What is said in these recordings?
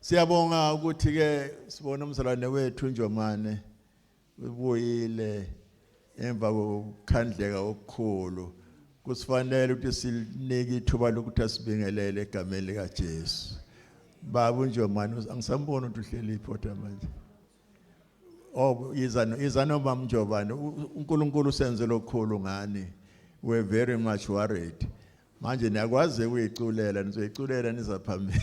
Siyabonga ukuthi ke sibona umzalwane wethu Njomane ubuyile emva kokukhandleka okukhulu kusifanele ukuthi silinike ithuba lokuthi asibingelele egameni likaJesu baba uNjomane angisamboni ukuthi uhleli iphoto manje Oh yiza yiza noma mjobane uNkulunkulu senze lokhulu ngani we're very much worried manje niyakwazi ukuyiculela nizoyiculela nizaphambili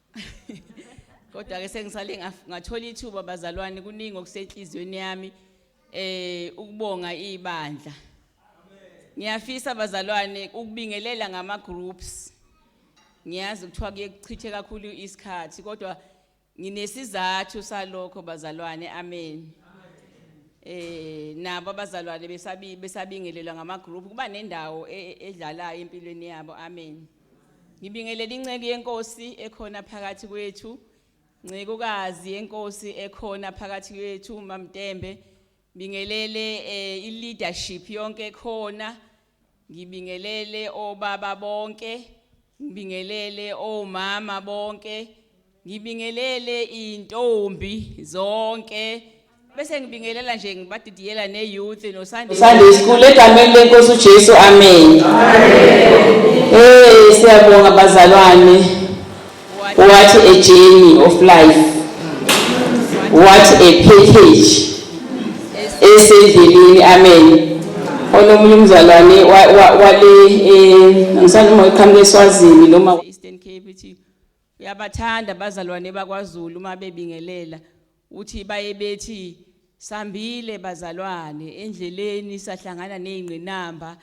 kodwa ke sengisale ngathola ithuba bazalwane kuningi okusenhliziyweni yami eh ukubonga ibandla ngiyafisa bazalwane ukubingelela ngama groups ngiyazi kuthiwa kuyekuchithe kakhulu isikhathi kodwa nginesizathu salokho bazalwane amen eh nabo abazalwane besabi besabingelelwa ngama group kuba nendawo e, e, edlalayo empilweni yabo amen Ngibingelela inceku yenkosi ekhona phakathi kwethu. Ncekukazi yenkosi ekhona phakathi kwethu uMamtembe. Bingelele eh, i-leadership yonke ekhona. Ngibingelele obaba bonke. Ngibingelele omama bonke. Ngibingelele intombi zonke bese ngibingelela nje ngibadidiyela ne youth no Sunday Sunday school egameni lenkosi uJesu amen. Eh siyabonga bazalwane. What a journey of life. What a package. Esendleleni amen. Onomunye umzalwane wale eh ngisani uma iqhamuka eSwazini noma Eastern Cape Uyabathanda abazalwane bakwaZulu uma bebingelela. Uthi baye bethi sambile bazalwane endleleni sahlangana nezingqinamba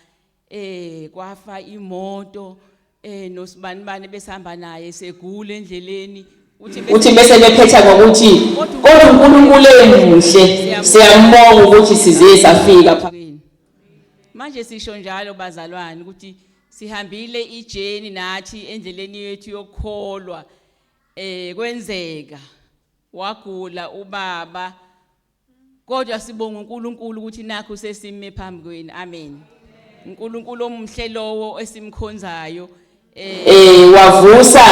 eh kwafa imoto eh nosibanibani besihamba naye segula endleleni uthi bese bephetha ngokuthi kodwa uNkulunkulu emuhle siyambonga ukuthi size safika manje sisho njalo bazalwane ukuthi sihambile ijeni nathi endleleni yethu yokukholwa eh kwenzeka wagula ubaba kodwa sibonga uNkulunkulu ukuthi nakho sesime phambi kwenu amen uNkulunkulu omhle lowo esimkhonzayo Eh wavusa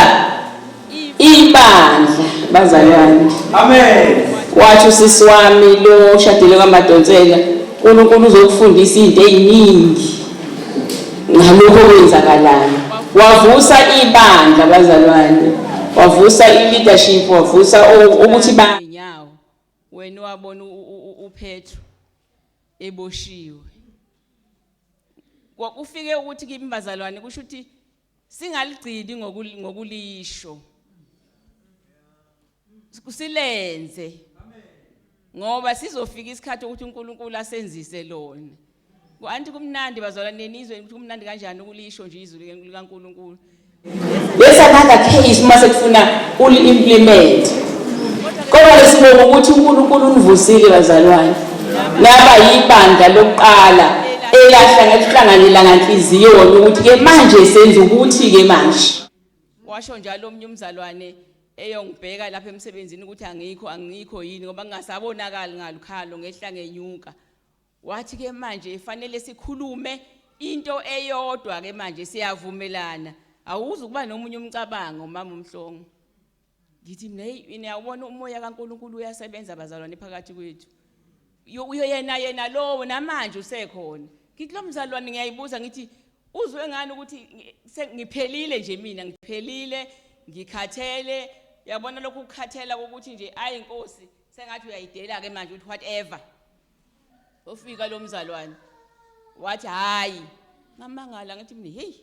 ibandla bazalwane. Amen. Wathi usisi wami lo shadile kwaMadonsela uNkulunkulu uzokufundisa izinto eziningi ngalokho okwenzakalayo. Wavusa ibandla bazalwane. Wavusa i-leadership wavusa ukuthi ba wena wabona uPetru eboshiwe Kufike ukuthi kimi bazalwane kusho ukuthi singaligcini ngokulisho. Silenze. Ngoba sizofika isikhathi ukuthi uNkulunkulu asenzise lona. Anti kumnandi bazalwane nenizwe ukuthi kumnandi kanjani ukulisho nje izwi likaNkulunkulu. There's another case uma sekufuna uli-implement kodwa lesibonga ukuthi unkulunkulu univusile bazalwane naba yibandla lokuqala elahlangahlanganyela nganhliziyo wona ukuthi-ke manje senza ukuthi-ke manje washo njalo omunye umzalwane eyongibheka lapha emsebenzini ukuthi angikho angikho yini ngoba ngingasabonakali ngalukhalo ngehla ngenyuka Wathi ke manje fanele sikhulume into eyodwa ke manje siyavumelana awuzi ukuba nomunye umcabango mama umhlongo ngithi mina hey niyawubona umoya kaNkuluNkulu uyasebenza bazalwane phakathi kwethu uyoyena yena lowo namanje usekhona ngithi lo mzalwane ngiyayibuza ngithi uzwe ngani ukuthi ngiphelile nje mina ngiphelile ngikhathele yabona lokhu ukukhathela ukuthi nje ayi inkosi sengathi uyayidela ke manje ukuthi whatever ofika lo mzalwane wathi hayi ngamangala ngathi mina hey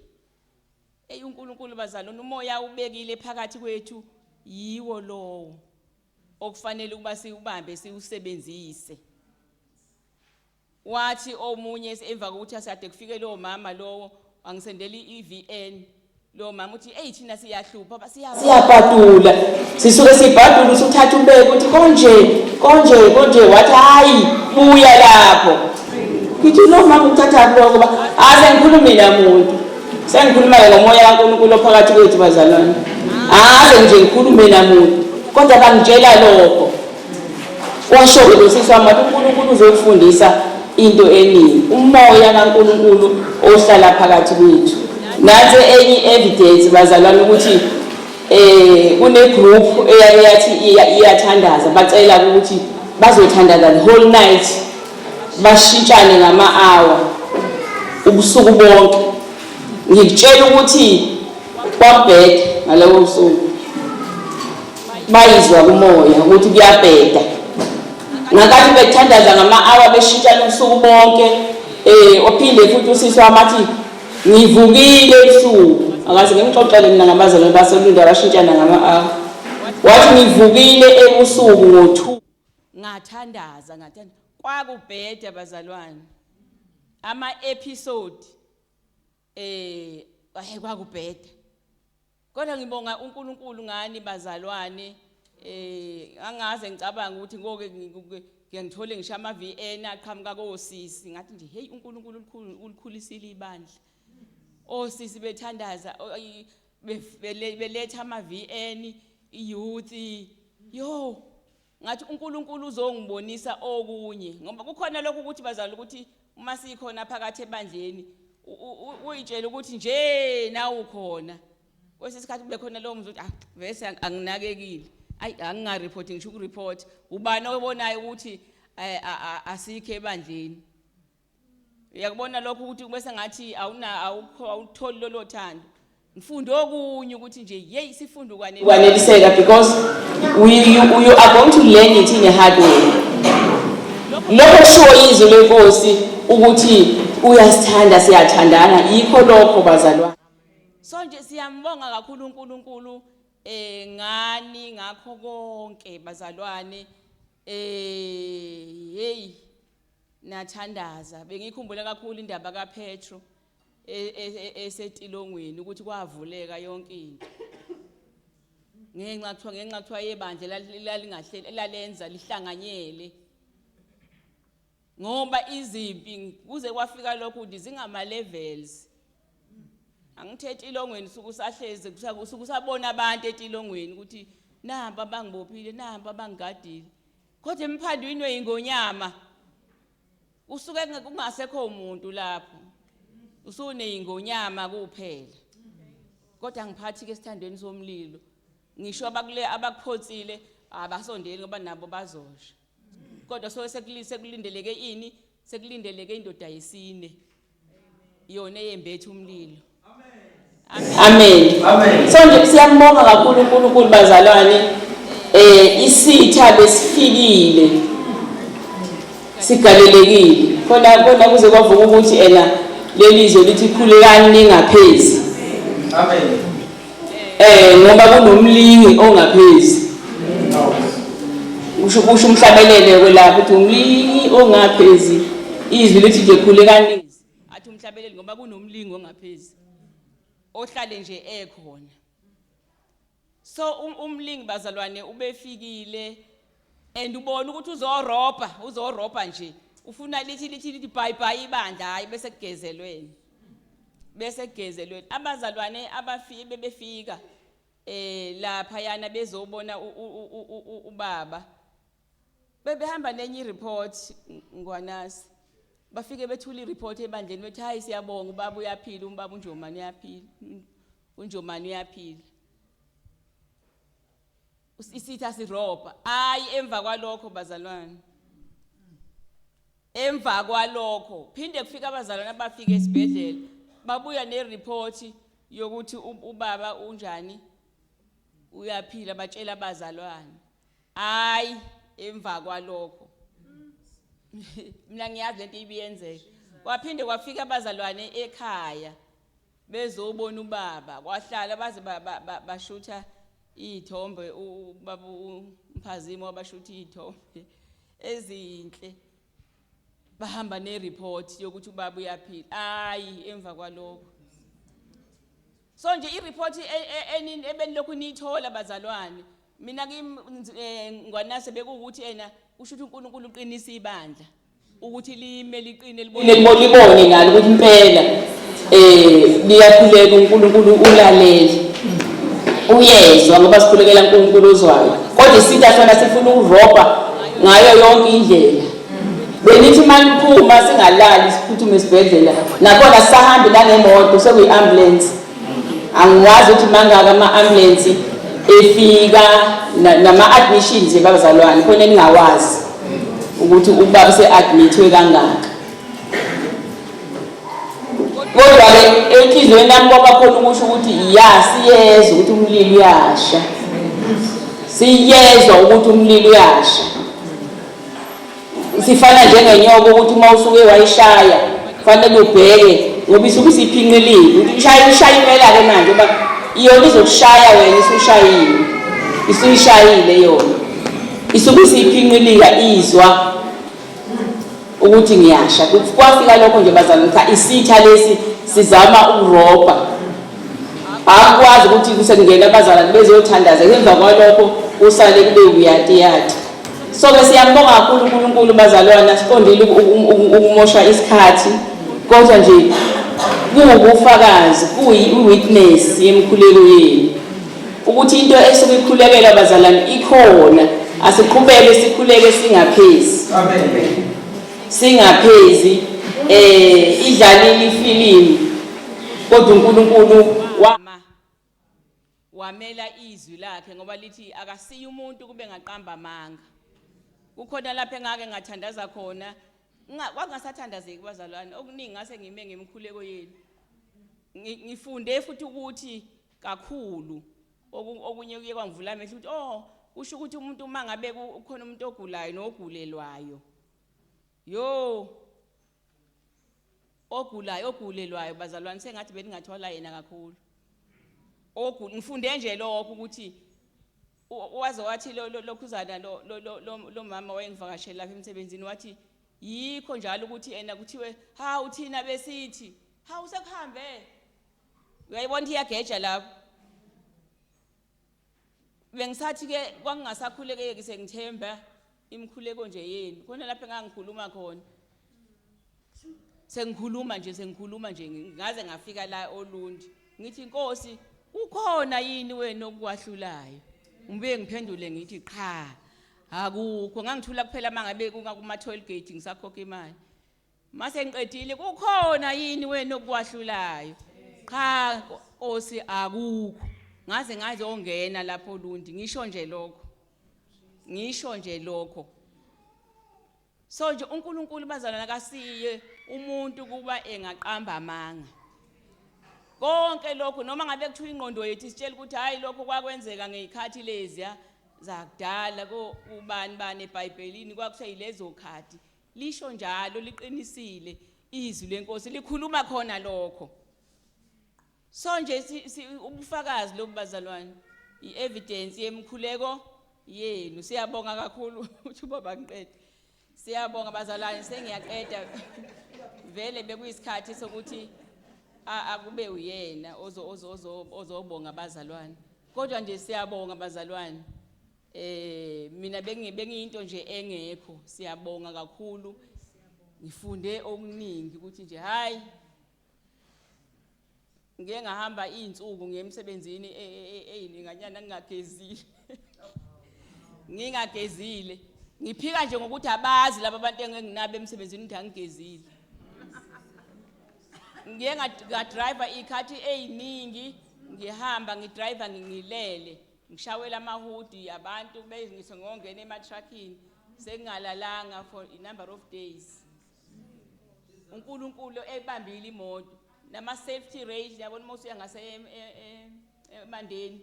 eyi uNkulunkulu bazalwane umoya ubekile phakathi kwethu yiwo lowo okufanele ukuba siwubambe siwusebenzise wathi omunye emva kokuthi asade kufike lowo mama lowo angisendela i-VN Lo mama uthi eyi thina siyahlupha ba- siyabona. siyabhadula sisuke sibhadula usuthatha umbeke ukuthi konje konje konje wathi hayi buya lapho ngithi lo mama uthatha kuloko kuba hayi sengikhulumi namuntu sengikhuluma-ke ngomoya kankulunkulu ophakathi kwethu bazalwane haze nje ngikhulume namuntu kodwa bangitshela lokho Washo-ke lo sisi wami wathi uNkulunkulu uzokufundisa into eningi, umoya kaNkulunkulu ohlala phakathi kwethu. Nansi enye i-evidence bazalwane ukuthi eh kunegroup eyaye yathi iyathandaza bacela ukuthi bazothandaza the whole night bashintshane ngama-hour ubusuku bonke ngikutshela ukuthi kwabheda ngalowo busuku bayizwa kumoya ukuthi kuyabheda ngakathi bethandaza ngama-awa beshintshana ubusuku bonke um ophinde futhi usisi wami athi ngivukile ebusuku akaze ngimxoxele mina ngabazalwane basolunde abashintshana ngama-awa wathi ngivukile ebusuku ngo-two ngathandaza ngathanda kwakubheda bazalwane ama-episode Eh hey kwakubheda. Kodwa ngibonga uNkulunkulu ngani bazalwane eh angaze ngicabanga ukuthi ngoke ngiyangithole ngisho ama VN aqhamuka kosisi ngathi nje hey uNkulunkulu ulikhulisile ibandla. Osisi bethandaza beletha ama VN youth yo Ngathi uNkulunkulu uzongibonisa okunye ngoba kukhona lokho ukuthi bazala ukuthi uma sikhona phakathi ebandleni uyitshela ukuthi nje nawu khona kwesinye isikhathi kube khona lowo mzuthi ah vese anginakekile ayi angingareport ngisho ukureport ubani obonayo ukuthi eh, asikho ebandleni uyakubona lokho ukuthi kube sengathi awuna awukho awutholi lolo thando ngifunde okunye ukuthi nje yeyi sifunde ukwaneliseka because we, you, you are going to learn it in a hard way lokho kushiwo izwi lenkosi ukuthi uyasithanda siyathandana yikho lokho bazalwane so nje siyambonga kakhulu uNkulunkulu eh ngani ngakho konke bazalwane eh hey nathandaza bengikhumbula kakhulu indaba kaPetro e- e- e- esetilongweni ukuthi kwavuleka yonke into ngenxa kuthiwa ngenxa kuthiwa yebandla lal- lalingahle lalenza lihlanganyele ngoba izimpi kuze kwafika lokho ukuthi zingama levels angithethi ilongweni suku sahleze kusuku sabona abantu etilongweni ukuthi namba bangibophile namba bangigadile Kodwa imphando inwe ingonyama. Usuke kungasekho umuntu lapho. Usune ingonyama kuphela. Kodwa ngiphathi ke sithandweni somlilo. Ngisho abakule abakuphotsile abasondeli ngoba nabo bazosha. Kodwa so sekulindeleke ini? Sekulindeleke indoda yesine. yona eyembethe umlilo amen amen so nje siyambonga kakhulu uNkulunkulu bazalwane eh isitha besifikile sigalelekile khona khona kuze kwavuka ukuthi ena lelizwe lithi khulekani ningaphezi amen Eh ngoba kunomlingi ongaphezi. Usho kusho umhlabelele kwelapha ukuthi umlingi ongaphezi. Izwi lithi nje khulekani. Athi umhlabelele ngoba kunomlingi ongaphezi. Ohlale nje ekhona. So um, umlingi bazalwane ubefikile and ubona ukuthi uzorobha uzorobha nje ufuna lithi lithi lithi bhayi bhayi ibandla hhayi bese kugezelweni bese kugezelweni abazalwane abafike bebefika eh lapha yana bezobona ubaba bebehamba nenye ireport ngwanasi bafike bethula ireport ebandleni bethi hayi siyabonga ubaba uyaphila umbaba unjomani uyaphila unjomani uyaphila Isitha sirobha. Ayi emva kwalokho bazalwane. Emva kwalokho phinde kufika abazalwane abafika esibhedlela babuya nereport yokuthi ubaba unjani uyaphila batshela abazalwane. Ayi emva kwalokho. Mina ngiyazi lento ibiyenzeka. Kwaphinde kwafika abazalwane ekhaya. bezobona ubaba kwahlala baze bashutha iy'thombe ubaba umphazima wabashutha iy'thombe ezinhle bahamba ne-report yokuthi ubaba uyaphila hhayi emva kwalokho so nje i-report e, e, e, ebenilokhu niyithola bazalwane mina kimi eh, ngwanase bekuwukuthi ena kusho ukuthi unkulunkulu uqinisa ibandla ukuthi lime liqine libone libone nalo ukuthi impela eh liyakhuleka uNkulunkulu ulalele uyezwa ngoba sikhulekela uNkulunkulu uzwayo kodwa isitha sona sifuna ukurobha ngayo yonke indlela benithi maniphuma singalali siphuthume esibhedlela nakhona sisahambe nanemoto sekuyi-ambulance angiwazi ukuthi mangaka ama-ambulensi efika nama-admissions ebazalwane khona eningawazi ukuthi ubaba use-admithwe kangaka kodwa-ke enhliziyweni yami kwabakhona ukusho ukuthi ya siyezwa ukuthi umlilo uyasha siyezwa ukuthi umlilo uyasha Sifana njengenyoka ukuthi uma usuke wayishaya kufanele ubheke ngoba isuke isiphinqilile ukuthi ishaya ishaya impela-ke manje uba iyona izokushaya wena isushayile isuyishayile yona isuke isiyiphinqilika izwa ukuthi ngiyasha kwafika lokho nje bazalwane cha isitha lesi sizama ukurobha akwazi ukuthi kusengena abazalwane bezothandaza emva kwalokho usale kube uyati yati so ke siyambonga kakhulu uNkulunkulu bazalwane asiqondile ukumosha isikhathi kodwa nje kuwubufakazi kuyi-witness yemkhuleko yenu ukuthi into esuke ikhulekela abazalwane ikhona asiqhubeke sikhuleke singaphezi singaphezi eh idlalile ifilimu kodwa uNkulunkulu wamela izwi lakhe ngoba lithi akasiye umuntu kube ngaqamba amanga kukhona lapho engake ngathandaza khona kwakungasathandazeki bazalwane okuningi ngase ngime ngemikhuleko yenu ngifunde futhi ukuthi kakhulu okunye kuye kwangivula amehlo ukuthi oh kusho ukuthi umuntu uma ngabe ukhona umuntu ogulayo nogulelwayo Yoo ogulayo ogulelwayo bazalwane sengathi belingathwala yena kakhulu ogu ngifunde nje lokho ukuthi waze wathi lokhuzana lo mama wayengivakashela lapha emsebenzini wathi yikho njalo ukuthi ena kuthiwe ha uthina besithi ha usekuhambe uyayibona ukuthi iyageja lapho bengisathi ke kwangingasakhulekeki sengithemba imikhuleko nje yenu khona lapho engangikhuluma khona sengikhuluma nje sengikhuluma nje ngaze ngafika la olundi ngithi inkosi ukhona yini wena okwahlulayo ngibuye ngiphendule ngithi qha akukho ngangithula kuphela mangabe kungakumathwell gate ngisakhokha imali Mase ngiqedile kukhona yini wena okwahlulayo? Qha Nkosi akukho. Ngaze ngaze ongena lapho Lundi ngisho nje lokho. Ngisho nje lokho. So nje uNkulunkulu bazalwana kasiye umuntu kuba engaqamba amanga. Konke lokho noma ngabe kuthiwa ingqondo yethu isitshela ukuthi hayi lokho kwakwenzeka ngezikhathi leziya zakudala ko ubani bani eBhayibhelini kwakuseyilezokhathi Lisho njalo liqinisile izwi lenkosi likhuluma khona lokho. So nje ubufakazi lobu bazalwane i-evidence yemkhuleko yenu siyabonga kakhulu uthi ubaba ngiqede siyabonga bazalwane sengiyaqeda vele bekuyisikhathi sokuthi akube uyena ozobonga abazalwane kodwa nje siyabonga abazalwane Eh mina bengi bengiyinto nje engekho siyabonga kakhulu ngifunde okuningi ukuthi nje hayi ngeke ngahamba izinsuku ngemsebenzini e, e, e, eyininganyana ngingagezile ngingagezile ngiphika nje ngokuthi abazi laba bantu enginabo emsebenzini ukuthi angigezile ngiye ngadriver iy'khathi ey'ningi ngihamba ngidriver ngilele ngishawela amahudi abantu kube ngisho ngongena ematruckini sengingalalanga for a number of days uNkulunkulu ebambile imoto nama safety rail yabona uma usuya ngase emandeni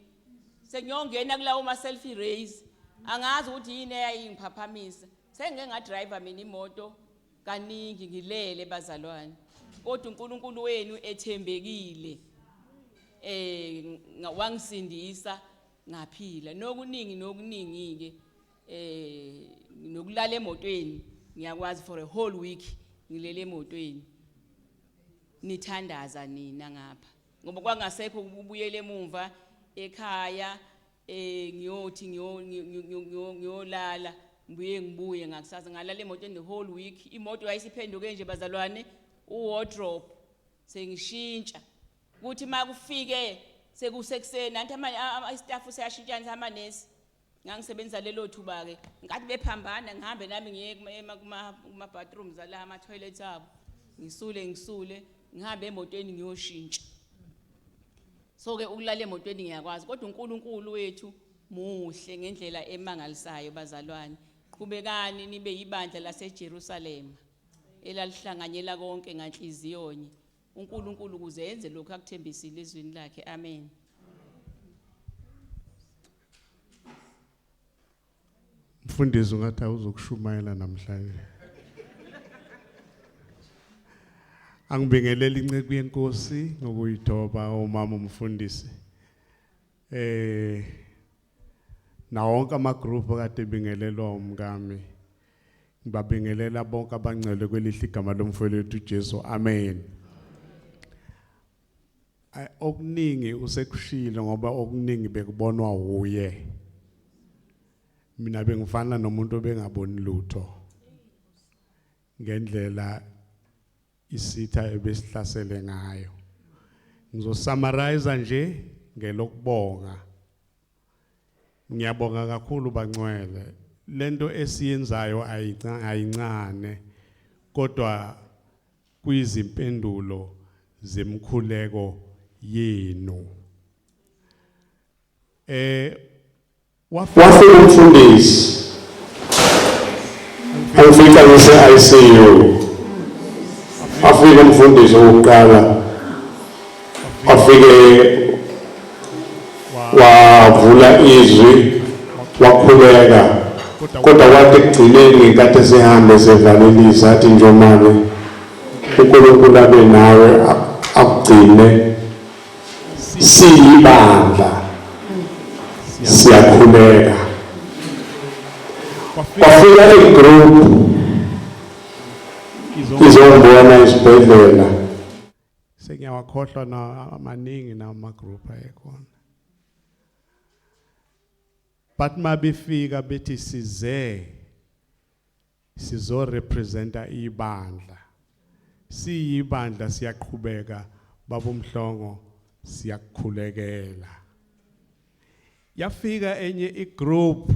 sengiyongena kulawo ma selfie rails angazi ukuthi yini eyayingiphaphamisa sengike ngadriver mina imoto kaningi ngilele bazalwane kodwa uNkulunkulu wenu ethembekile eh wangisindisa ngaphila nokuningi nokuningi ke eh nokulala emotweni ngiyakwazi for a whole week ngilele emotweni nithandaza nina ngapha ngoba kwangasekho ukubuyela emumva ekhaya eh ngiyothi ngiyo ngiyo- ngiyo- ngiyo- ngiyolala ngibuye ngibuye ngakusasa ngalala emotweni the whole week imoto yayisiphenduke nje bazalwane uwardrobe sengishintsha kuthi uma kufike sekusekuseni nanti ama- a- ama- istaff seyashintshana amanesi ngangisebenzisa lelo thuba-ke nkathi bephambana ngihambe nami ngiye kuma- ema- kuma- kuma-bathrooms ala ama-toilets abo ngisule ngisule ngihambe emotweni ngiyoshintsha So ke ukulala emotweni ngiyakwazi kodwa uNkulunkulu wethu muhle ngendlela emangalisayo bazalwane. Qhubekani nibe yibandla laseJerusalema elalihlanganyela konke nganhliziyonye. UNkulunkulu kuze enze lokho akuthembisile ezwini lakhe. Amen. Mfundisi ungathi awuzokushumayela namhlanje. Angibingelele inceku yenkosi ngokuyithoba umama umfundisi. Eh na wonke ama group kade bingelelwa umkami. Ngibabingelela bonke abangcwele kwelihle igama lomfowethu uJesu. Amen. Ay okuningi usekushilo ngoba okuningi bekubonwa wuye. Mina bengifana nomuntu obengaboni lutho. Ngendlela isitha ebesihlasele ngayo. Ngizosummarize nje ngelokubonga. Ngiyabonga kakhulu bancwele. Lento esiyenzayo ayincane kodwa kwizimpendulo zemkhuleko yenu eh wafika umfundisi angifika ngise ICU afika umfundisi wokuqala wafike wavula izwi wakhuleka kodwa kwathi ekugcineni ngenkathi esehambe esevalelisa athi njomane unkulunkulu abe nawe akugcine siyibandla siyakhuleka kwafika igroup izombona isibhedlela sengiyawakhohlwa na amaningi na ama group ayekhona but mabefika bethi size sizo representa ibandla siyibandla siyaqhubeka babomhlongo siyakukhulekela yafika enye igroup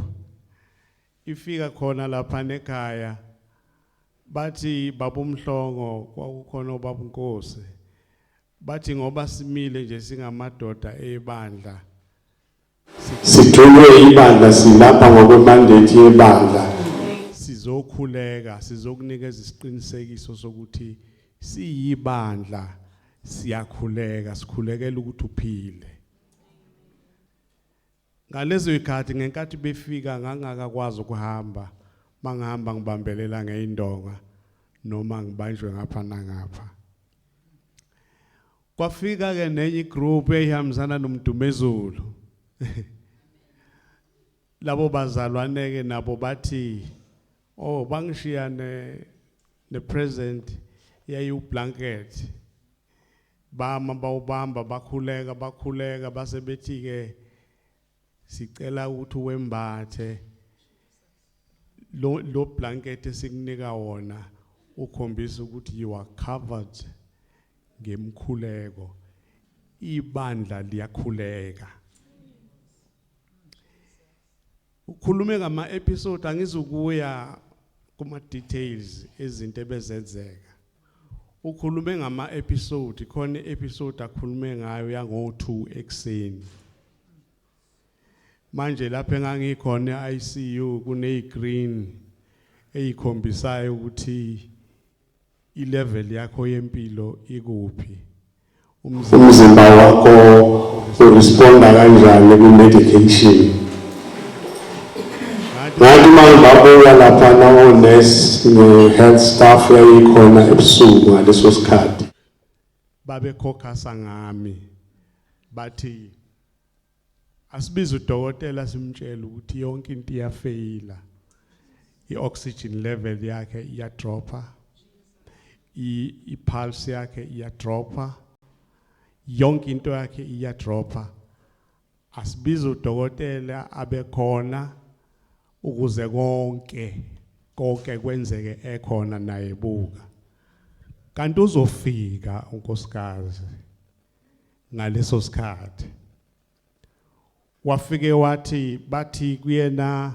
Ifika khona laphana ekhaya bathi babumhlongo kwakukhona obabunkosi bathi ngoba simile nje singamadoda ebandla sithunywe ibandla silapha ngokwemandate yebandla sizokhuleka sizokunikeza isiqinisekiso sokuthi siyibandla siyakhuleka sikhulekela ukuthi uphile Ngalezo zikhathi ngenkathi befika ngangakakwazi ukuhamba mangihamba ngibambelela ngeindonga noma ngibanjwe ngapha nangapha kwafika ke nenye igroup eyihambisana nomdumezulu labo bazalwane ke nabo bathi oh bangishiya ne ne present yayiwublanket Bama bawubamba bakhuleka bakhuleka base bethi ke sicela ukuthi wembathe lo lo blanket esikunika wona ukhombisa ukuthi you are covered ngemkhuleko ibandla liyakhuleka ukhulume ngama episode angizukuya kuma details ezinto ebezenzeka Ukhulume ngama episode khona episode akhulume ngayo yango 2 ekseni. Manje lapha engangikhona eICU kune green eyikhombisayo ukuthi ilevel yakho yempilo ikuphi. Umzimba wakho uresponda kanjani kwi-medication. Ngathi uma ngibabuka lapha nawonesi ne-health staff yayikhona ebusuku ngaleso sikhathi. Babekhokhasa ngami bathi Asibize udokotela simtshele ukuthi yonke into iyafeyila. I-oxygen level yakhe iyadropha. I-pulse yakhe iyadropha. Yonke into yakhe iyadropha. Asibize udokotela abekhona ukuze konke konke kwenzeke ekhona naye buka. Kanti uzofika unkosikazi. ngaleso sikhathi wafike wathi bathi kuyena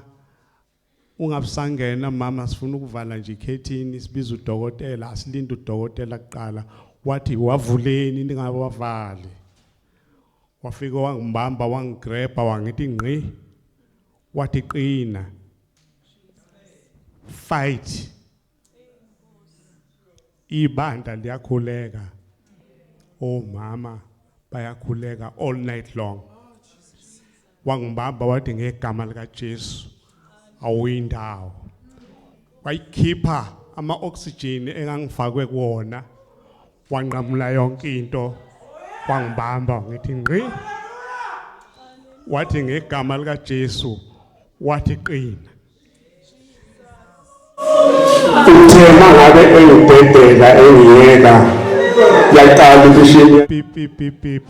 ungabusangena mama sifuna ukuvala nje ikhethini sibiza udokotela asilinde udokotela kuqala wathi wavuleni ningabe wavali wafika wangibamba wangigrabha wangithi ngqi wathi qina fight ibandla liyakhuleka omama bayakhuleka all night long wangibamba wathi ngegama likaJesu awuyindawo wayikhipha ama oxygen engangifakwe kuona wanqamula yonke into wangibamba ngithi ngqi wathi ngegama likaJesu wathi qina uthe mangabe engibhedela engiyeka yaqala ukushiya pipipipip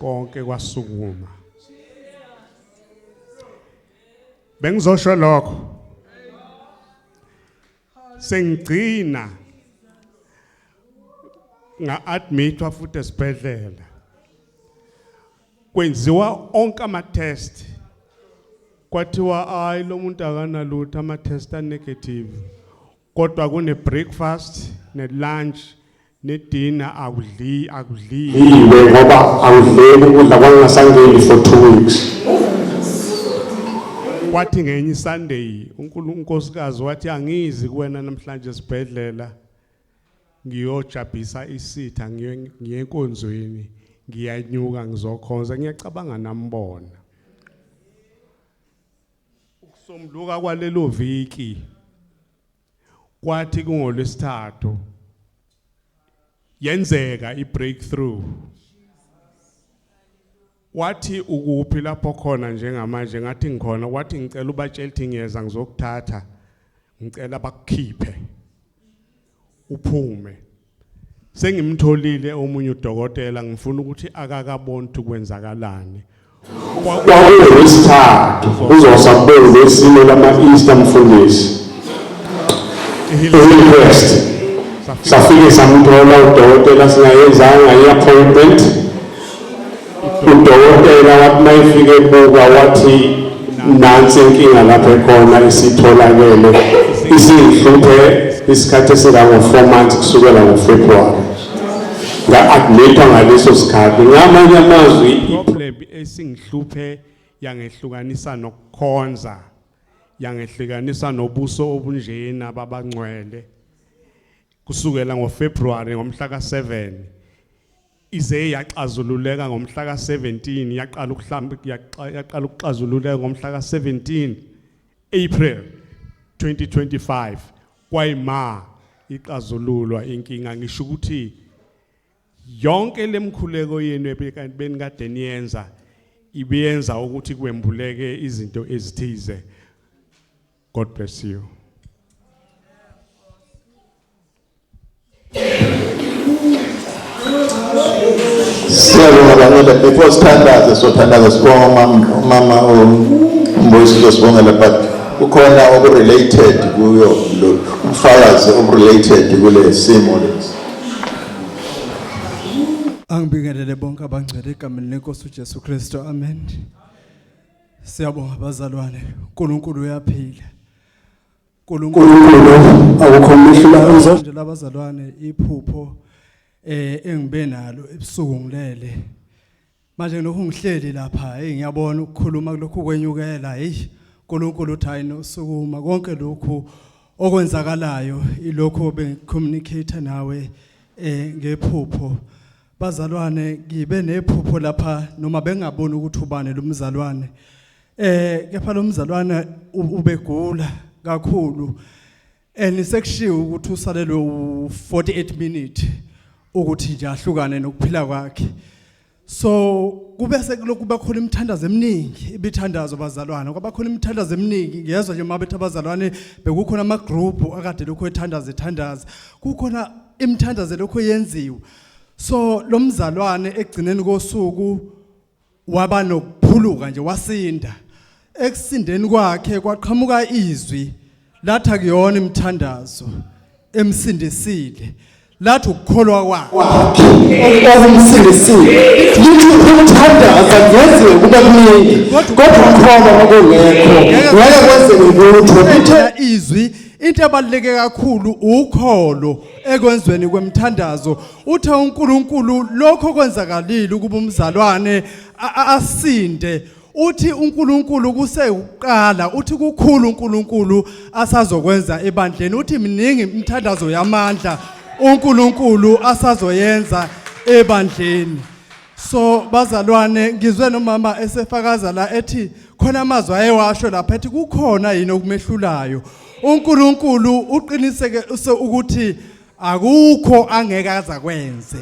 konke kwasukuma bengizosho lokho sengigcina nga-admithwa futhi esibhedlela kwenziwa onke ama-test kwathiwa hayi lo muntu akanalutho ama-test anegative kodwa kune-breakfast ne-lunch nedina akudli akudli iwe ngoba angidleki ukudla kwangingasangeni for two weeks kwathi ngenye isunday unkosikazi wathi angizi kuwena namhlanje esibhedlela ngiyojabhisa isitha ngiye enkonzweni ngiyanyuka ngizokhonza ngiyacabanga nambona ukusomluka kwalelo viki kwathi kungolwesithathu yenzeka ibreakthrough wathi ukuphi lapho khona njengamanje ngathi ngikhona wathi ngicela ubatshela ukuthi ngiyeza ngizokuthatha ngicela bakukhiphe uphume sengimtholile omunye udokotela ngifuna ukuthi akakaboni ukuthi kwenzakalani kwakuwesithathu uzosa kubeni lesimo lama-easter mfundisi i-request safike samthola udokotela singayenzanga i-appointment Udokotela wathi uma efike ebuka wathi nansi inkinga lapho ekhona isitholakele isingihluphe isikhathi esingango-four months kusukela ngofebruwari nga-admithwa ngaleso sikhathi ngamanye amazwi problem esingihluphe yangehlukanisa nokukhonza yangehlukanisa nobuso obunjena babangcwele kusukela ngofebruwari ngomhla ka-seven ize yaxazululeka ngomhla ka-17 yaqala ukuhlamba yaqala ukuxazululeka ngomhla ka-17 April 2025 kwayima ixazululwa inkinga ngisho ukuthi yonke lemkhuleko yenu ebekanti benikade niyenza ibiyenza ukuthi kwembuleke izinto ezithize God bless you. Siyabonga bangela before sithandaze sothandaza sibonga umama umama uMbusiso sibongela but kukhona okurelated kuyo lo umfakazi okurelated kule simo lesi. Angibingelele bonke abangcwele egameni lenkosi uJesu Kristu. Amen. Siyabonga bazalwane, uNkulunkulu uyaphila. uNkulunkulu akukho umehluko enzo. Nje labazalwane iphupho eh engibe nalo ebusuku ngilele. Manje nokho ngihleli lapha, hey ngiyabona ukukhuluma kulokhu kwenyukela, hey uNkulunkulu uthi hayi nosukuma konke lokhu okwenzakalayo ilokho bengicommunicate nawe eh ngephupho. Bazalwane ngibe nephupho lapha noma bengaboni ukuthi ubani lo mzalwane. Eh kepha lo mzalwane u- ubegula kakhulu. And sekushiwo ukuthi usalelwe u48 minute ukuthi nje ahlukane nokuphila kwakhe. So kube sekulokhu kuba khona imithandazo eminingi ibithandazo bazalwane kwaba khona imithandazo eminingi ngiyezwa nje mabethi abazalwane bekukhona ama group akade lokho ethandaza ethandaza kukhona imithandazo lokho yenziwa so lo mzalwane ekugcineni kosuku waba nokuphuluka nje wasinda ekusindeni kwakhe kwaqhamuka izwi latha kuyona imthandazo emsindisile lathi ukukholwa kwakhe okumsindisile lithi umthandaza ngeziwe kube kuningi kodwa ukhona ngokungekho ngeke kwenzeke lutho ithe izwi into ebaluleke kakhulu ukholo ekwenzweni kwemthandazo uthe uNkulunkulu lokho kwenzakalile ukuba umzalwane a- a- asinde uthi uNkulunkulu kusekuqala uthi kukhulu uNkulunkulu asazokwenza ebandleni uthi miningi imthandazo yamandla uNkulunkulu asazoyenza ebandleni so bazalwane ngizwe nomama esefakaza la ethi khona amazwi ayewasho lapha ethi kukhona yini okumehlulayo uNkulunkulu uqiniseke ukuthi akukho angeke azakwenze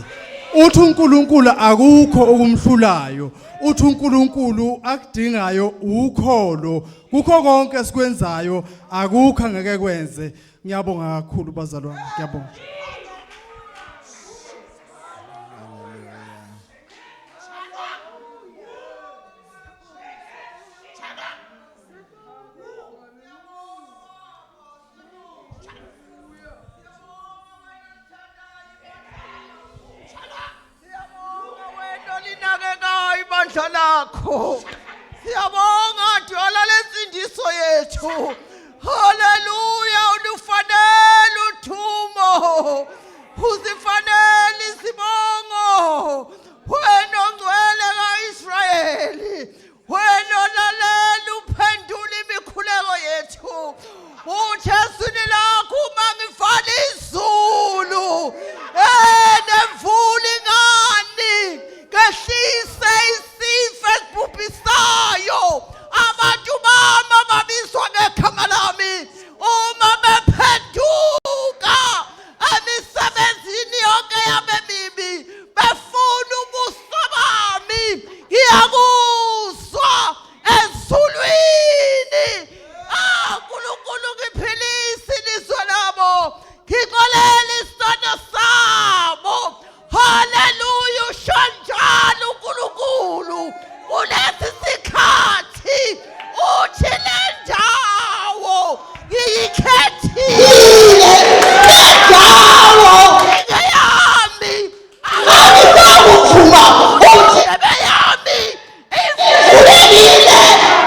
uthi uNkulunkulu akukho okumhlulayo uthi uNkulunkulu akudingayo ukholo kukho konke esikwenzayo akukho angeke kwenze ngiyabonga kakhulu bazalwane ngiyabonga olinakekayo ibandla lakho siyabonga dwala lensindiso yethu haleluya ulifanele uthumo uzifanele isibongo wena ongcwele ka-israyeli wena olalela uphendula imikhuleko yethu ujesu nilakho uma ngivala izulu um nemvula ingani ngehlise isifo esibhubhisayo abantu bami ababizwa ngegama lami uma bephenduka emisebenzini yonke yami emibi befuna ubuso bami ngiyakuzwa ezulwini ah uNkulunkulu ngiphilise ilizwe labo ngixolela isono sabo Haleluya ushanjalo uNkulunkulu kulesi sikhathi uthi le ndawo ngiyikhethile Indawo ngeyami angisakuphuma futhi indebe yami ivulekile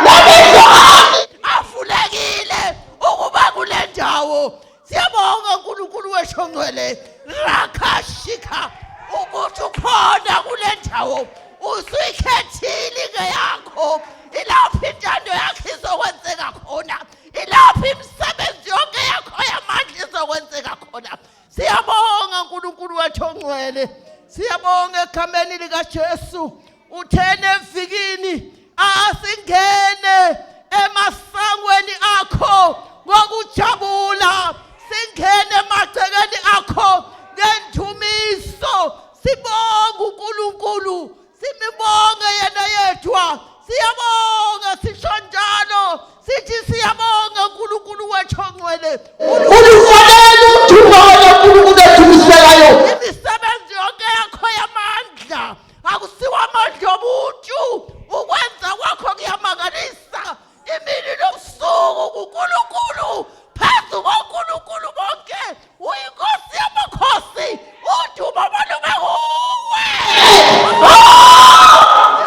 namehlo ami avulekile ukuba kule ndawo siyabonga uNkulunkulu wesho ngcwele rakashika ukuthi ukhona kule ndawo usuyikhethile ke yakho ilapho intando yakhe izokwenzeka khona ilapho imisebenzi yonke yakho yamandla izokwenzeka khona siyabonga uNkulunkulu wethu ongcwele siyabonga egameni likaJesu uthene evikini asingene emasangweni akho ngokujabula singene emagcekeni akho ngendumiso sibonga uNkulunkulu simibonge yena yedwa siyabonga sisho njalo sithi siyabonga uNkulunkulu wethu ongcwele ulifanele udumo kaNkulunkulu ethumiselayo imisebenzi yonke yakho yamandla akusiwo amandla omuntu ukwenza kwakho kuyamangalisa imini nobusuku kuNkulunkulu phezu koNkulunkulu bonke uyinkosi yamakhosi udumo balube kuwe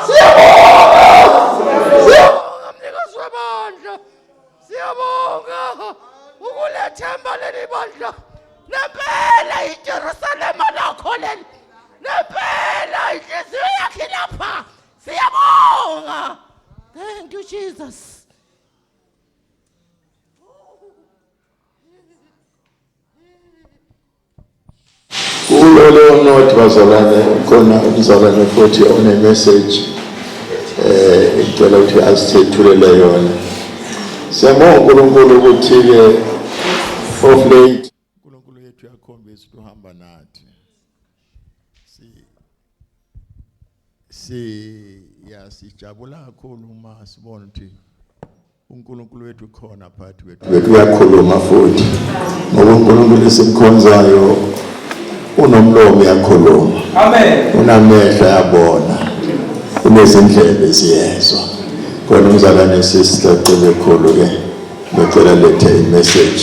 siyabonga mnikazi webandla siyabonga ukulethemba leli bandla nempela ijerusalema lakho leli Nempela inhliziyo yakhe lapha. Siyabonga. Thank you Jesus. kulo leyo note bazalwane khona umzalwane futhi onemessage eh ngicela ukuthi asithethulele yona siyabonga uNkulunkulu ukuthi-ke of late uNkulunkulu wethu uyakhombisa ukuthi uhamba nathi si si yasijabula kakhulu uma sibona ukuthi uNkulunkulu wethu khona phakathi kwethu wethu uyakhuluma futhi ngoba uNkulunkulu esimkhonzayo unomlomo uyakhuluma amen unamehlo yabona unezindlebe ziyezwa kodwa umzalwane sisicela ekhulu ke ngicela lethe imessage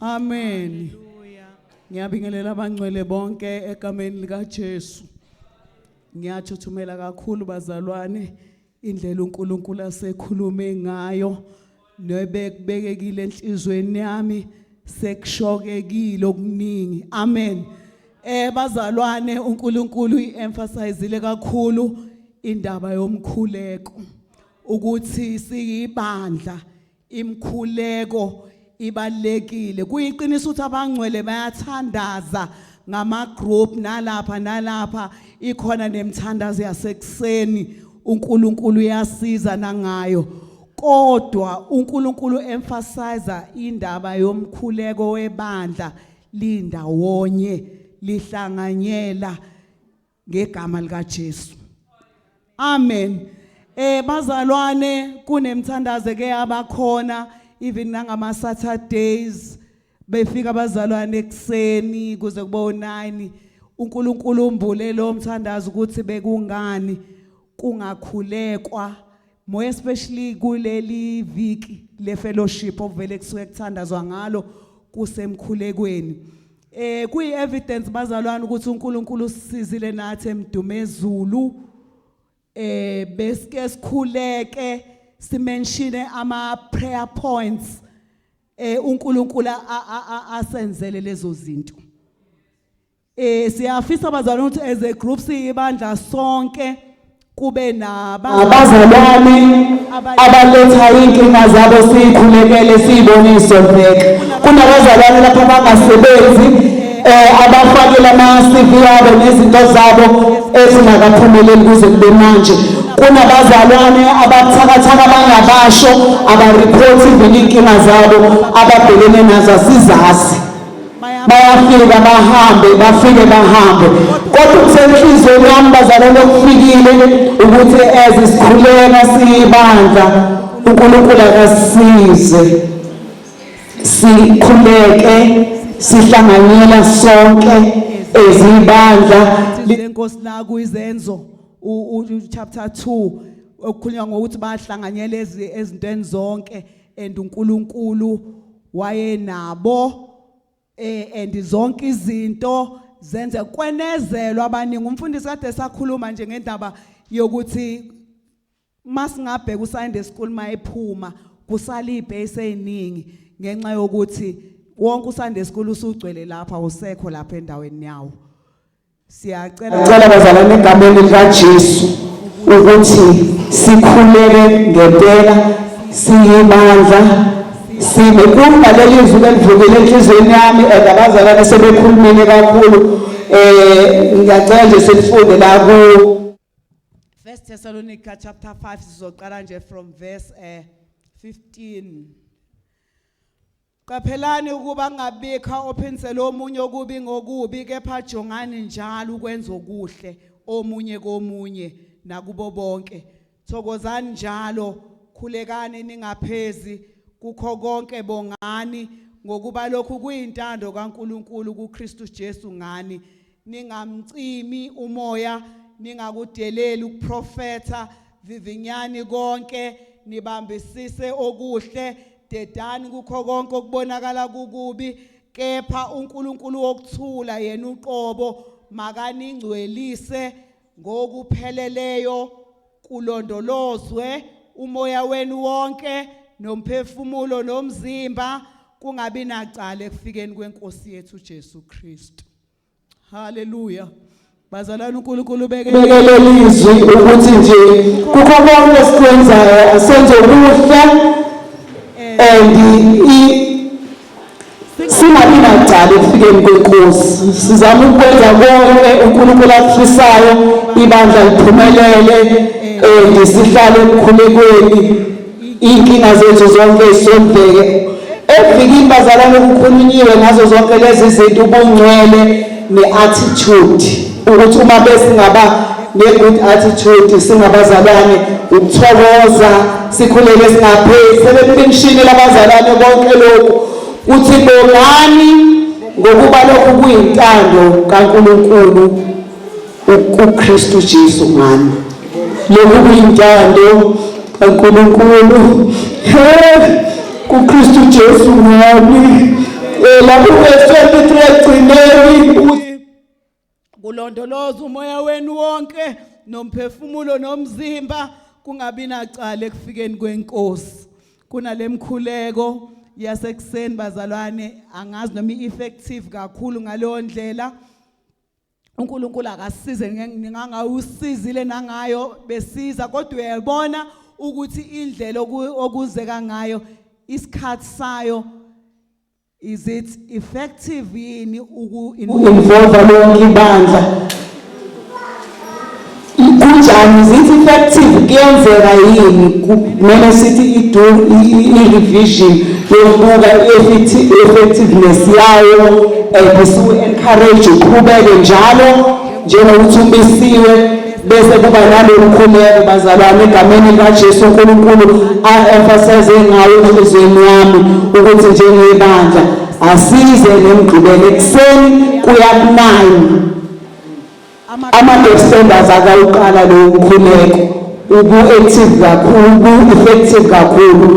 Amen. Ngiyabingelela abangcwele bonke egameni likaJesu. Ngiyathuthumela kakhulu bazalwane indlela uNkulunkulu asekhulume ngayo nebekubekekile enhlizweni yami sekushokekile okuningi. Amen. Eh bazalwane uNkulunkulu uemphasizile kakhulu indaba yomkhuleko ukuthi siyibandla Imkhuleko ibalekile. Kuyiqiniso ukuthi abangcwele bayathandaza ngama group nalapha nalapha ikhona nemthandazo yasekuseni uNkulunkulu uyasiza nangayo. Kodwa uNkulunkulu emphasize indaba yomkhuleko webandla lindawonye lihlanganyela ngegama lika Jesu amen eh bazalwane kunemthandazo ke abakhona even nangama Saturdays befika abazalwane ekseni kuze kube u9 uNkulunkulu umbule lo mthandazo ukuthi bekungani kungakhulekwa more especially kuleli viki le fellowship ovele kusuke kuthandazwa ngalo kusemkhulekweni eh kuyi evidence bazalwane ukuthi uNkulunkulu usisizile nathi emdumezulu eh besike sikhuleke simenshine ama prayer points eh uNkulunkulu asenzele lezo zinto Eh siyafisa abazalwane ukuthi as a group siyibandla sonke kube naba abazalwane abaletha inkinga zabo siyikhulekele siyibonise veke kunabazalwane lapha abangasebenzi eh abafakela ama-CV yabo nezinto zabo ezingakaphumeleli kuze kube manje kunabazalwane abathakathaka abangabasho abariphothi vele iy'nkinga zabo ababhekene nazo asizazi bayafika bahambe bafike bahambe kodwa kusenhlizweni yami bazalwane okufikile ukuthi as sikhuleka siyibandla uNkulunkulu akasize sikhuleke sihlanganyela sonke ezibandla lenkosi la kuyizenzo u chapter 2 okukhulunywa ngokuthi bahlanganyela ezintweni zonke and uNkulunkulu wayenabo eh and zonke izinto zenze kwenezelwa abaningi umfundisi kade sakhuluma nje ngendaba yokuthi masingabheka uSunday school mayephuma kusala ibase eziningi ngenxa yokuthi wonke uSunday school usugcwele lapha usekho lapha endaweni yawo Siyacela Cela bazalwane egameni likaJesu ukuthi sikhuleke ngempela siyibandla sime kumba leli zwi elivukile enhlizweni yami and abazalwane sebekhulumile kakhulu eh ngiyacela nje selifunde la ku First Thessalonica chapter 5 sizoqala nje from verse eh 15 Qaphelani ukuba kungabikho ophinsela omunye okubi ngokubi kepha jongani njalo ukwenza okuhle omunye komunye nakubo bonke. Thokozani njalo, khulekani ningaphezi kukho konke bongani ngokuba lokhu kuyintando kaNkuluNkulu kuKristu Jesu ngani. ningamcimi umoya ningakudeleli ukuprofetha vivinyani konke nibambisise okuhle dedani kukho konke okubonakala kukubi kepha uNkulunkulu wokuthula yena uqobo makaningcwelise ngokupheleleyo kulondolozwe umoya wenu wonke nomphefumulo nomzimba kungabi nacala ekufikeni kwenkosi yethu Jesu Kristu Hallelujah. Bazalwane uNkulunkulu ubekelele izwi ukuthi nje kukho konke esikwenzayo asenze kuhle and singabi nacala ekufikeni kwenkosi sizama ukwenza konke uNkulunkulu akufisayo ibandla liphumelele and sihlale ekukhulekweni Iy'nkinga zethu zonke zisondleke evikini bazalwane kukhulunyiwe ngazo zonke lezi zinto ubungcwele ne-attitude ukuthi uma besingaba ne-good attitude singabazalwane ukuthokoza sikhulele singapheli sebekulimshini labazalwane konke lokhu kuthi bongani ngokuba lokhu kuyintando kaNkulunkulu UKristu Jesu ngami. Lokhu kuyintando kaNkulunkulu. He, kuKristu Jesu ngami. Eh, lapho verse 23 ekugcineni ukuthi kulondoloza umoya wenu wonke nomphefumulo nomzimba kungabi nacala ekufikeni kwenkosi kunalemkhuleko yasekuseni bazalwane angazi noma i-effective kakhulu ngaleyo ndlela uNkulunkulu akasize ngingangawusizile nangayo besiza kodwa uyabona ukuthi indlela okuzeka ngayo isikhathi sayo is it effective yini uku involve lonke ibandla Kunjani? Is it effective? Kuyenzeka yini? Kumele sithi i-do i-revision yokubuka i-effectiveness yayo and siwu-encourage uqhubeke njalo njengokuthi umisiwe bese kuba nalolu khuleko bazalwane egameni likaJesu uNkulunkulu a-emphasize ngayo enhliziyweni yami ukuthi njengebandla asize nemgqibelo ekuseni kuya kunani Ama-Defenders akawuqala lo mkhuleko ubu-active kakhulu, ubu-effective kakhulu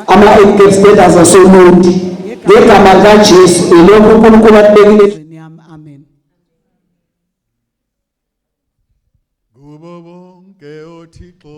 ama-Defenders asoMundi. Ngegama likaJesu, yilokho uNkulunkulu akubekile endlini yami. Amen. Kubo bonke oThixo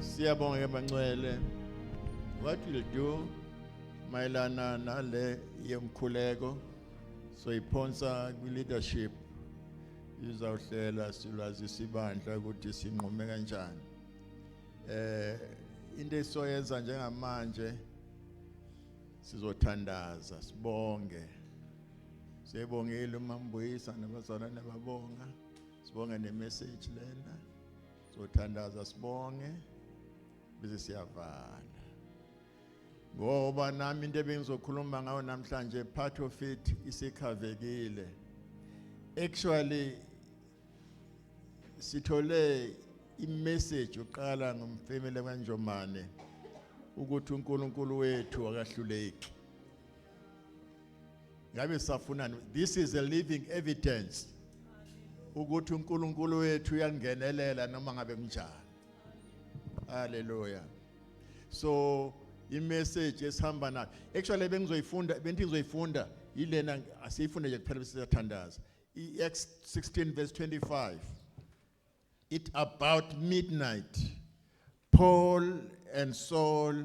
Siyabonga Emmanuel. What we'll do mayelana nale yemkhuleko soyiphonsa kwi leadership izawuhlela silwazisa ibandla ukuthi sinqume kanjani eh into esoyenza njengamanje sizothandaza sibonge siyebongile umambuyisa nabazalwane babonga sibonga nemessage lena sothandaza sibonge bese siyavala ngoba nami into ebengizokhuluma ngayo namhlanje part of it isikhavekile actually sithole imessage uqala ngomfemele kanjomane ukuthi uNkulunkulu wethu akahluleki ngabe safunani this is a living evidence ukuthi uNkulunkulu wethu uyangenelela noma ngabe kunjani haleluya so imessage esihamba nayo actually bengizoyifunda benti ngizoyifunda yilena asiyifunde nje kuphela bese siyathandaza i-Acts 16 verse 25 it about midnight Paul and Saul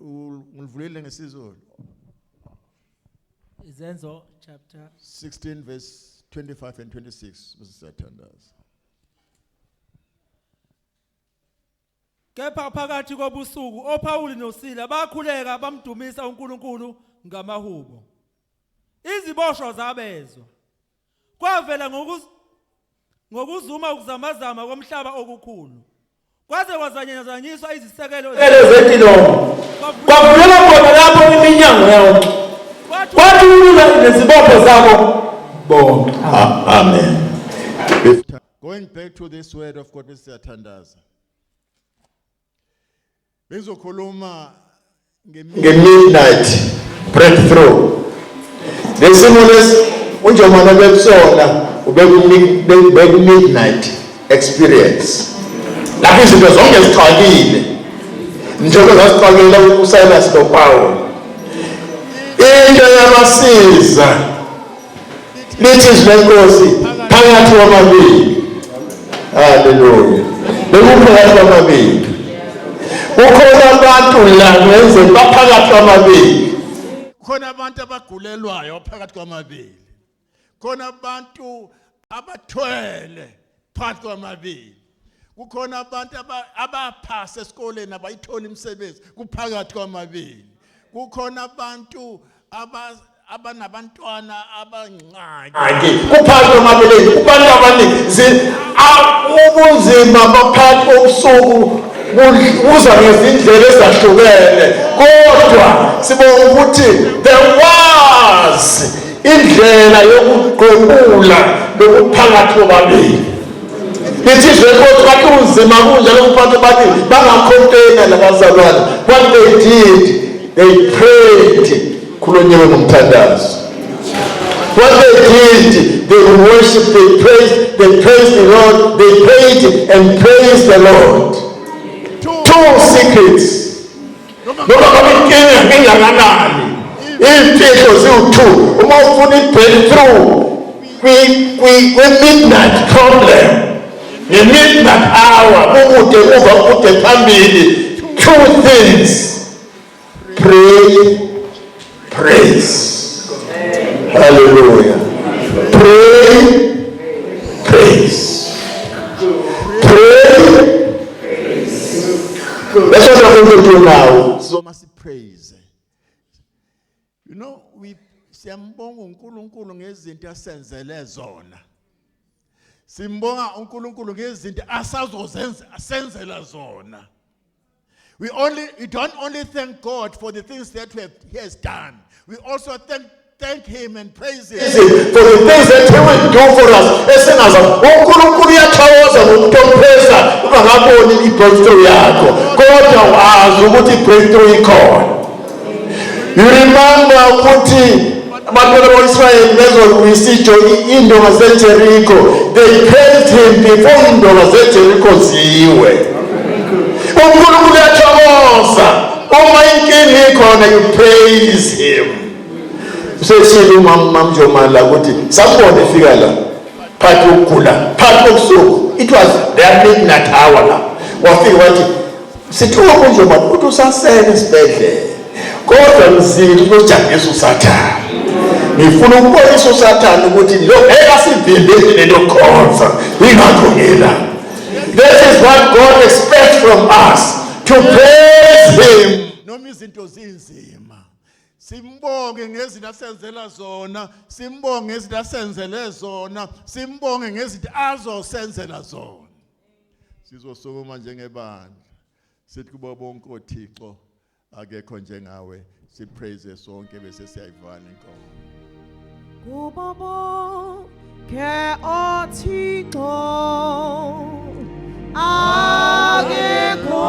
Ngilivulile ngesiZulu. Izenzo chapter 16 verse 25 and 26 besizathandaza. Kepha phakathi kobusuku oPawuli noSila bakhuleka bamdumisa uNkulunkulu ngamahubo. Iziboshwa zabezwa. Kwavela ngokuz ngokuzuma ukuzamazama komhlaba okukhulu. Kwaze kwazanyazanyiswa izisekelo zempilo. Kwavuleka khona lapho iminyango yonke. Kwathi ulula nezibopho zabo bonke. Amen. Going back to this word of God siyathandaza. bengizokhuluma nge-midnight breakthrough nesimo lesi unjomane bekusona ubeku-midnight experience lapho izinto zonke zixakile njengoba zasixakela usilas nopawula into yabasiza lithi izwi lenkosi phakathi kwamabili haleluya bekuphakathi kwamabili kukhona abantu la ngenze baphakathi kwamabili khona abantu abagulelwayo phakathi kwamabili khona abantu abathwele phakathi kwamabili kukhona abantu abaphasa esikoleni abayithola imisebenzi kuphakathi kwamabili kukhona abantu abanabantwana abangxaki kuphakathi kwamabili kubantu abaningi ubunzima baphakathi kobusuku kuza ngezindlela ezahlukene kodwa sibonga ukuthi there was indlela yokuqoqula lokuphakathi bobabili ithi izwe kodwa kanti unzima kunje lokuphakathi bobabili bangakhontaina labazalwane what they did they prayed khulonyewe ngomthandazo what they did they worship they praised they praised the lord they prayed and praised the lord two secrets noma ngabe inkinga ingakanani iy'mfihlo ziwu-two uma ufuna i-breakthrough kwi-midnight problem nge-midnight hour kukude kuva kude phambili two things pray Praise. Hallelujah. Pray. Praise. Pray. That's what I'm going to do now. So must praise. You know, we siyambonga uNkulunkulu ngezinto asenzele zona. Simbonga uNkulunkulu ngezinto asazozenza asenzela zona. We, only, we don't only thank God for the things that we have, He has done, we also thank, thank Him and praise Him. Is it for the things that he will do for us esingaza unkulunkulu uyathokoza ngomuntu omphesa ungakaboni i-breakthrough yakho kodwa wazi ukuthi i-breakthrough ikhona You remember ukuthi abantwana bakwa-israyeli bezolwisa into ngasejerikho they praised him before indonga zejerikho ziwe unkulunkulu yathokoza uma inkinga ikhona you praise him useshile umamamjomala ukuthi sambone efika la phakathi kokugula phakathi kobusuku it was their midnight hour la wafika wathi Sithiwa kunje manje ukuthi usasele esibhedlela. Kodwa mzili kujangisa usathane. Ngifuna ukubonisa usathane ukuthi lo ngeke asivimbele lento khonza. Ingakho ngila. This is what God expects from us to praise him. Noma izinto zinzima. Simbonge ngezinto asenzela zona, simbonge ngezinto asenzele zona, simbonge ngezinto azosenzela zona. Sizosukuma njengebandla sithi kubo bonke oThixo akekho njengawe sipraise sonke bese siyayivana inkomo kubo bonke othixo akekho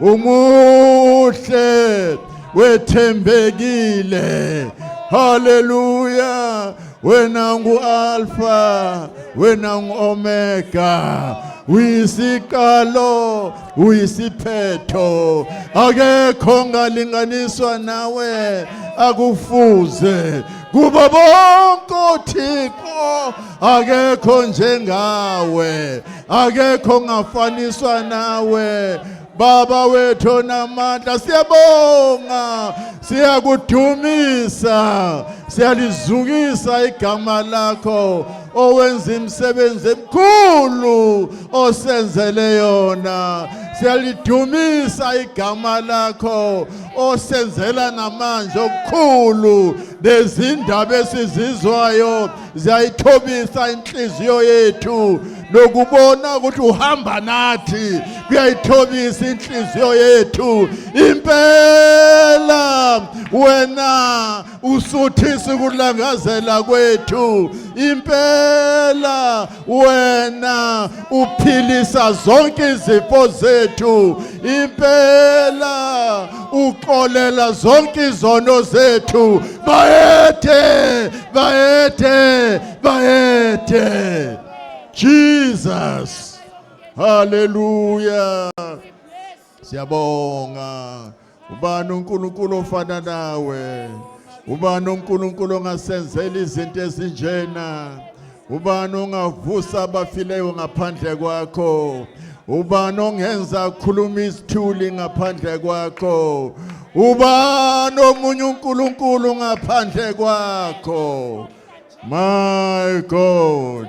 umuhle wethembekile haleluya wena ngu-alfa wena ngu-omega uyisiqalo uyisiphetho akekho ngalinganiswa nawe akufuze kuba bonke othixo akekho njengawe akekho ongafaniswa nawe baba wethu onamandla siyabonga siyakudumisa siyalizukisa igama lakho owenza imisebenzi emikhulu osenzele yona siyalidumisa igama lakho osenzela namanje okukhulu nezindaba esizizwayo ziyayithobisa inhliziyo yethu nokubona ukuthi uhamba nathi kuyayithobisa inhliziyo yethu impela wena usuthisa ukulangazela kwethu impela wena uphilisa zonke izifo zethu impela uxolela zonke izono zethu bayethe bayethe bayethe Jesus haleluya Siyabonga. Ubani uNkulunkulu ofana nawe? Ubani uNkulunkulu ongasenzela izinto ezinjena? Ubani ongavusa abafileyo ngaphandle kwakho? Ubani ongenza akhuluma isithuli ngaphandle kwakho? Ubani omunye uNkulunkulu ngaphandle kwakho? My God.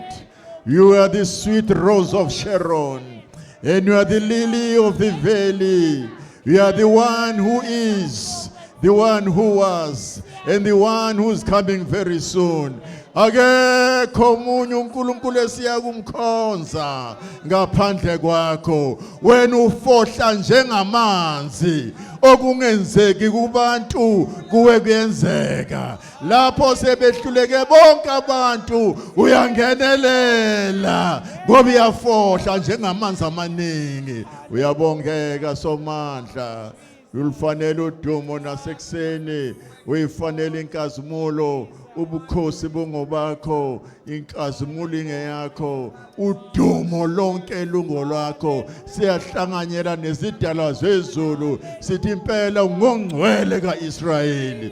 You are the sweet rose of Sharon, and you are the lily of the valley. You are the one who is, the one who was, and the one who is coming very soon. akekho omunye uNkulunkulu esiya kumkhonza ngaphandle kwakho wena ufohla njengamanzi okungenzeki kubantu kuwe kuyenzeka lapho sebehluleke bonke abantu uyangenelela ngoba uyafohla njengamanzi amaningi uyabongeka somandla ulifanele udumo nasekuseni uyifanele inkazimulo ubukhosi bungobakho inkazimulo ingeyakho udumo lonke lungolwakho siyahlanganyela nezidalwa zezulu sithi impela ungongcwele kaIsrayeli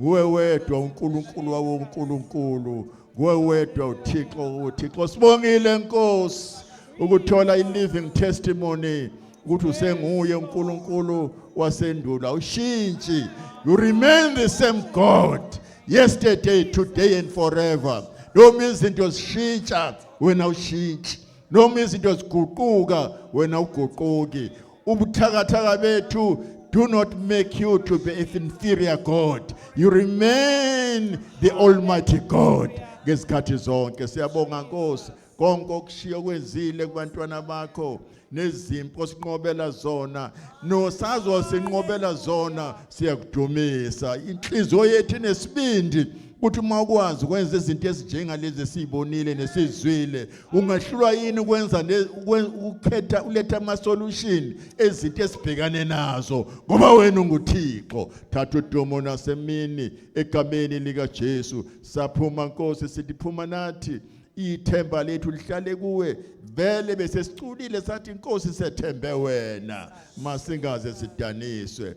Nguwe wedwa uNkulunkulu wawonkulunkulu. Nguwe wedwa uThixo uThixo. Sibongile Nkosi ukuthola i-living testimony ukuthi usenguye uNkulunkulu wasendulo. Awushintshi. You remain the same God yesterday, today and forever. Noma izinto zishintsha wena ushintshi. Noma izinto ziguquka wena uguquki. ubuthakathaka bethu do not make you to be an inferior god you remain the almighty god ngezikhathi zonke siyabonga nkosi konke okushiya kwenzile kubantwana bakho nezimpi osinqobela zona nosazosinqobela zona siyakudumisa inhliziyo yethu inesibindi ukuthi uma ukwazi ukwenza izinto ezinjengalezi esiyibonile nesizwile ungahlulwa yini ukwenza ukukhetha uletha ama-solution ezinto esibhekane nazo ngoba wena unguthixo thatha udumo nasemini egameni likajesu saphuma nkosi sithi phuma nathi ithemba lethu lihlale kuwe vele bese siculile sathi inkosi sethembe wena masingaze sidaniswe